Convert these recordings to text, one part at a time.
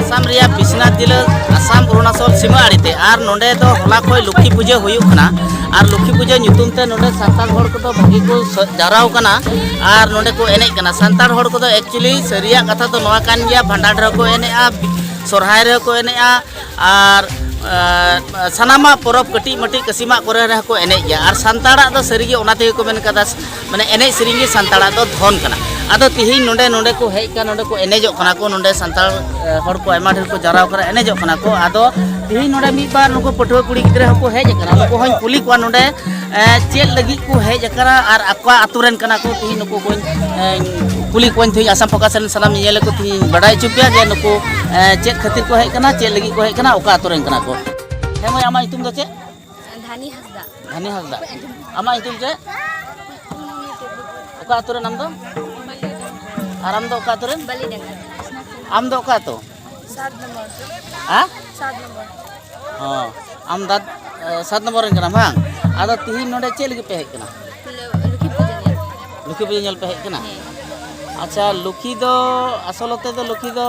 ᱟᱥᱟᱢ ᱨᱮᱭᱟᱜ ᱵᱤᱥᱱᱟᱛ ᱡᱤᱞᱟᱹ ᱟᱥᱟᱢ ᱚᱨᱩᱱᱟᱪᱚᱞ ᱥᱤᱢᱟᱹ ᱟᱲᱮᱛᱮ ᱟᱨ ᱱᱚᱰᱮ ᱫᱚ ᱦᱚᱞᱟ ᱠᱷᱚᱱ ᱞᱚᱠᱠᱷᱤ ᱯᱩᱡᱟᱹ ᱦᱩᱭᱩᱜ ᱠᱟᱱᱟ ᱟᱨ ᱞᱚᱠᱠᱷᱤ ᱯᱩᱡᱟᱹ ᱧᱩᱛᱩᱢ ᱛᱮ ᱱᱚᱰᱮ ᱥᱟᱱᱛᱟᱲ ᱦᱚᱲ ᱠᱚᱫᱚ ᱵᱷᱟᱹᱜᱤ ᱠᱚ ᱡᱟᱣᱨᱟᱣ ᱠᱟᱱᱟ ᱟᱨ ᱱᱚᱰᱮ ᱠᱚ ᱮᱱᱮᱡ ᱠᱟᱱᱟ ᱥᱟᱱᱛᱟᱲ ᱦᱚᱲ ᱠᱚᱫᱚ ᱮᱠᱪᱩᱭᱮᱞᱤ ᱥᱟᱹᱨᱤᱭᱟᱜ ᱠᱟᱛᱷᱟ ᱫᱚ ᱱᱚᱣᱟ ᱠᱟᱱ ᱜᱮᱭᱟ ᱵᱷᱟᱸᱰᱟᱱ ᱨᱮᱦᱚᱸ ᱠᱚ ᱮᱱᱮᱡᱼᱟ ᱥᱚᱨᱦᱟᱭ ᱨᱮᱦᱚᱸ ᱠᱚ ᱮᱱᱮᱡᱼᱟ ᱟᱨ ᱥᱟᱱᱟᱢᱟᱜ ᱯᱚᱨᱚᱵᱽ ᱠᱟᱹᱴᱤᱡ ᱢᱟᱹᱴᱤᱡ ᱠᱟᱹᱥᱤᱢᱟᱜ ᱠᱚᱨᱮ ᱨᱮᱦᱚᱸ ᱠᱚ ᱮᱱᱮᱡ ᱜᱮᱭᱟ ᱟᱨ ᱥᱟᱱᱛᱟᱲᱟᱜ ᱫᱚ ᱥᱟᱹᱨᱤᱜᱮ ᱚᱱᱟ ᱛᱮᱜᱮ ᱠᱚ ᱢᱮᱱ ᱠᱟᱫᱟ ᱢᱟᱱᱮ ᱮᱱᱮᱡ ᱥᱮᱨᱮᱧ ᱜᱮ ᱥᱟᱱᱛᱟᱲᱟᱜ ᱫᱚ ᱫᱷᱚᱱ ᱠᱟᱱᱟ ᱟᱫᱚ ᱛᱤᱦᱤᱧ ᱱᱚᱰᱮ ᱱᱚᱰᱮ ᱠᱚ ᱦᱮᱡ ᱠᱟᱱᱟ ᱱᱚᱰᱮ ᱠᱚ ᱮᱱᱮᱡᱚᱜ ᱠᱟᱱᱟ ᱠᱚ ᱱᱚᱰᱮ ᱥᱟᱱᱛᱟᱲ ᱦᱚᱲ ᱠᱚ ᱟᱭᱢᱟ ᱰᱷᱮᱨ ᱠᱚ ᱡᱟᱣᱨᱟ ᱠᱟᱱᱟ ᱮᱱᱮᱡᱚᱜ ᱠᱟᱱᱟ ᱠᱚ ᱟᱫᱚ ᱛᱤᱦᱤᱧ ᱱᱚᱰᱮ ᱢᱤᱫ ᱵᱟᱨ ᱱᱩᱠᱩ ᱯᱟᱹᱴᱷᱩᱣᱟᱹ ᱠᱩᱲᱤ ᱜᱤᱫᱽᱨᱟᱹ ᱦᱚᱸᱠᱚ ᱦᱮᱡ ᱟᱠᱟᱱᱟ ᱱᱩᱠᱩ ᱦᱚᱸᱧ ᱠᱩᱞᱤ ᱠᱚᱣᱟ ᱱᱚᱰᱮ ᱪᱮᱫ ᱞᱟᱹᱜᱤᱫ ᱠᱚ ᱦᱮᱡ ᱟᱠᱟᱱᱟ ᱟᱨ ᱟᱠᱚᱣᱟᱜ ᱟᱛᱳ ᱨᱮᱱ ᱠᱟᱱᱟ ᱠᱚ ᱛᱤᱦᱤᱧ ᱱᱩᱠᱩ ᱠᱚᱧ ᱠᱩᱞᱤ ᱠᱚᱣᱟᱧ ᱛᱤᱦᱤᱧ ᱟᱥᱟᱢ ᱯᱷᱳᱠᱟᱥ ᱨᱮᱱ ᱥᱟᱱᱟᱢ ᱧᱮᱧᱮᱞ ᱠᱚ ᱛᱤᱦᱤᱧ ᱵᱟᱰᱟᱭ ᱦᱚᱪᱚ ᱯᱮᱭᱟ ᱡᱮ ᱱᱩᱠᱩ ᱪᱮᱫ ᱠᱷᱟᱹᱛᱤᱨ ᱠᱚ ᱦᱮᱡ ᱟᱠᱟᱱᱟ ᱪᱮᱫ ᱞᱟᱹᱜᱤᱫ ᱠᱚ ᱦᱮᱡ ᱟᱠᱟᱱᱟ ᱚᱠᱟ ᱟᱛᱳ ᱨᱮᱱ ᱠᱟᱱᱟ ᱠᱚ ᱦᱮᱸ ᱢᱟᱹᱭ ᱟᱢᱟᱜ ᱧᱩᱛᱩᱢ ᱫᱚ ᱪᱮᱫ ᱫᱷᱟᱱᱤ ᱦᱟᱸᱥᱫᱟ ᱫᱷᱟᱱᱤ ᱦᱟᱸᱥᱫᱟ ᱟᱢᱟᱜ ᱧᱩᱛᱩᱢ ᱪᱮᱫ ᱚᱠᱟ ᱟᱹᱛᱩ ᱨᱮᱱ ᱟᱢ ᱫᱚ ᱟᱨ ᱟᱢ ᱫᱚ ᱚᱠᱟ ᱟᱹᱛᱩ ᱨᱮᱱ ᱟᱢ ᱫᱚ ᱚᱠᱟ ᱟᱹᱛᱩ ᱦᱮᱸ ᱚ ᱟᱢ ᱫᱟᱫ ᱥᱟᱛ ᱱᱚᱢᱵᱚᱨ ᱨᱮᱱ ᱠᱟᱱᱟᱢ ᱵᱟᱝ ᱟᱫᱚ ᱛᱤᱦᱤᱧ ᱱᱚᱰᱮ ᱪᱮᱫ ᱞᱟᱹᱜᱤᱫ ᱯᱮ ᱦᱮᱡ ᱠᱟᱱᱟ ᱞᱩᱠᱷᱤ ᱯᱩᱡᱟᱹ ᱧᱮᱞ ᱯᱮ ᱦᱮᱡ ᱠᱟᱱᱟ ᱟᱪᱪᱷᱟ ᱞᱩᱠᱷᱤ ᱫᱚ ᱟᱥᱚᱞᱚᱛᱮ ᱫᱚ ᱞᱩᱠᱷᱤ ᱫᱚ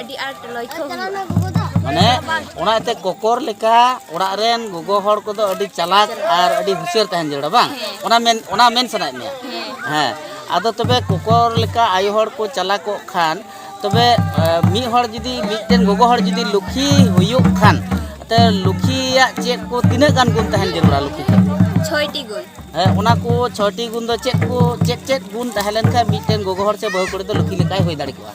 ᱟᱹᱰᱤ ᱟᱸᱴ ᱞᱚᱭᱠᱷᱚ ᱢᱟᱱᱮ ᱚᱱᱟ ᱮᱱᱛᱮ ᱠᱚᱠᱚᱨ ᱞᱮᱠᱟ ᱚᱲᱟᱜ ᱨᱮᱱ ᱜᱚᱜᱚ ᱦᱚᱲ ᱠᱚᱫᱚ ᱟᱹᱰᱤ ᱪᱟᱞᱟᱠ ᱟᱨ ᱟᱹᱰᱤ ᱦᱩᱥᱤᱭᱟᱹᱨ ᱛᱟᱦᱮᱱ ᱡᱟᱹᱨᱩᱲᱟ ᱵᱟᱝ ᱚᱱᱟ ᱢᱮᱱ ᱚᱱᱟ ᱢᱮᱱ ᱥᱟᱱᱟᱭᱮᱫ ᱢᱮᱭᱟ ᱦᱮᱸ ᱟᱫᱚ ᱛᱚᱵᱮ ᱠᱚᱠᱚᱨ ᱞᱮᱠᱟ ᱟᱭᱳ ᱦᱚᱲ ᱠᱚ ᱪᱟᱞᱟᱠᱚᱜ ᱠᱷᱟᱱ ᱛᱚᱵᱮ ᱢᱤᱫ ᱦᱚᱲ ᱡᱩᱫᱤ ᱢᱤᱫᱴᱮᱱ ᱜᱚᱜᱚ ᱦᱚᱲ ᱡᱩᱫᱤ ᱞᱩᱠᱷᱤ ᱦᱩᱭᱩᱜ ᱠᱷᱟᱱ ᱛᱮ ᱞᱩᱠᱷᱤᱭᱟᱜ ᱪᱮᱫ ᱠᱚ ᱛᱤᱱᱟᱹᱜ ᱜᱟᱱ ᱜᱩᱱ ᱛᱟᱦᱮᱱ ᱡᱟᱹᱨᱩᱲᱟ ᱞᱩᱠᱷᱤ ᱴᱷᱮᱱ ᱪᱷᱚᱭᱴᱤ ᱜᱩᱱ ᱦᱮᱸ ᱚᱱᱟ ᱠᱚ ᱪᱷᱚᱭᱴᱤ ᱜᱩᱱ ᱫᱚ ᱪᱮᱫ ᱠᱚ ᱪᱮᱫ ᱪᱮᱫ ᱜᱩᱱ ᱛᱟᱦᱮᱸ ᱞᱮᱱᱠᱷᱟᱱ ᱢᱤᱫᱴᱮᱱ ᱜᱚᱜᱚ ᱦᱚᱲ ᱥᱮ ᱵᱟᱹᱦᱩ ᱠᱩᱲᱤ ᱫᱚ ᱞᱩᱠᱷᱤ ᱞᱮᱠᱟᱭ ᱦᱩᱭ ᱫᱟᱲᱮ ᱠᱚᱜᱼᱟ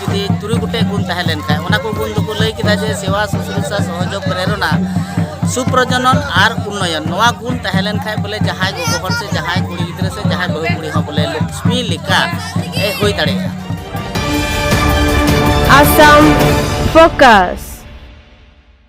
ᱡᱩᱫᱤ ᱛᱩᱨᱩᱭ ᱜᱚᱴᱮᱡ ᱜᱩᱱ ᱛᱟᱦᱮᱸ ᱞᱮᱱᱠᱷᱟᱱ ᱚᱱᱟ ᱠᱚ ᱜᱩᱱ ᱫᱚᱠᱚ ᱞᱟᱹᱭ ᱠᱮᱫᱟ ᱡᱮ ᱥᱮᱵᱟ ᱥᱩᱥᱨᱩᱥᱟ ᱥᱚᱦᱚᱡᱳᱜᱽ ᱯᱨᱮᱨᱚᱱᱟ ᱥᱩᱯᱨᱚᱡᱚᱱᱚᱱ ᱟᱨ ᱩᱱᱱᱚᱭᱚᱱ ᱱᱚᱣᱟ ᱜᱩᱱ ᱛᱟᱦᱮᱸ ᱞᱮᱱᱠᱷᱟᱱ ᱵᱚᱞᱮ ᱡᱟᱦᱟᱸᱭ ᱜᱚᱜᱚ ᱦᱚᱲ ᱥᱮ ᱡᱟᱦᱟᱸᱭ ᱠᱩᱲᱤ ᱜᱤᱫᱽᱨᱟᱹ ᱥᱮ ᱡᱟᱦᱟᱸᱭ ᱵᱟᱹᱦᱩ ᱠᱩᱲᱤ ᱦᱚᱸ ᱵᱚᱞᱮ ᱞᱚᱠᱥᱢᱤ ᱞᱮᱠᱟ ᱮ ᱦᱩᱭ ᱫᱟᱲᱮᱭᱟᱜᱼᱟ ᱟᱥᱟᱢ ᱯᱷᱳᱠᱟᱥ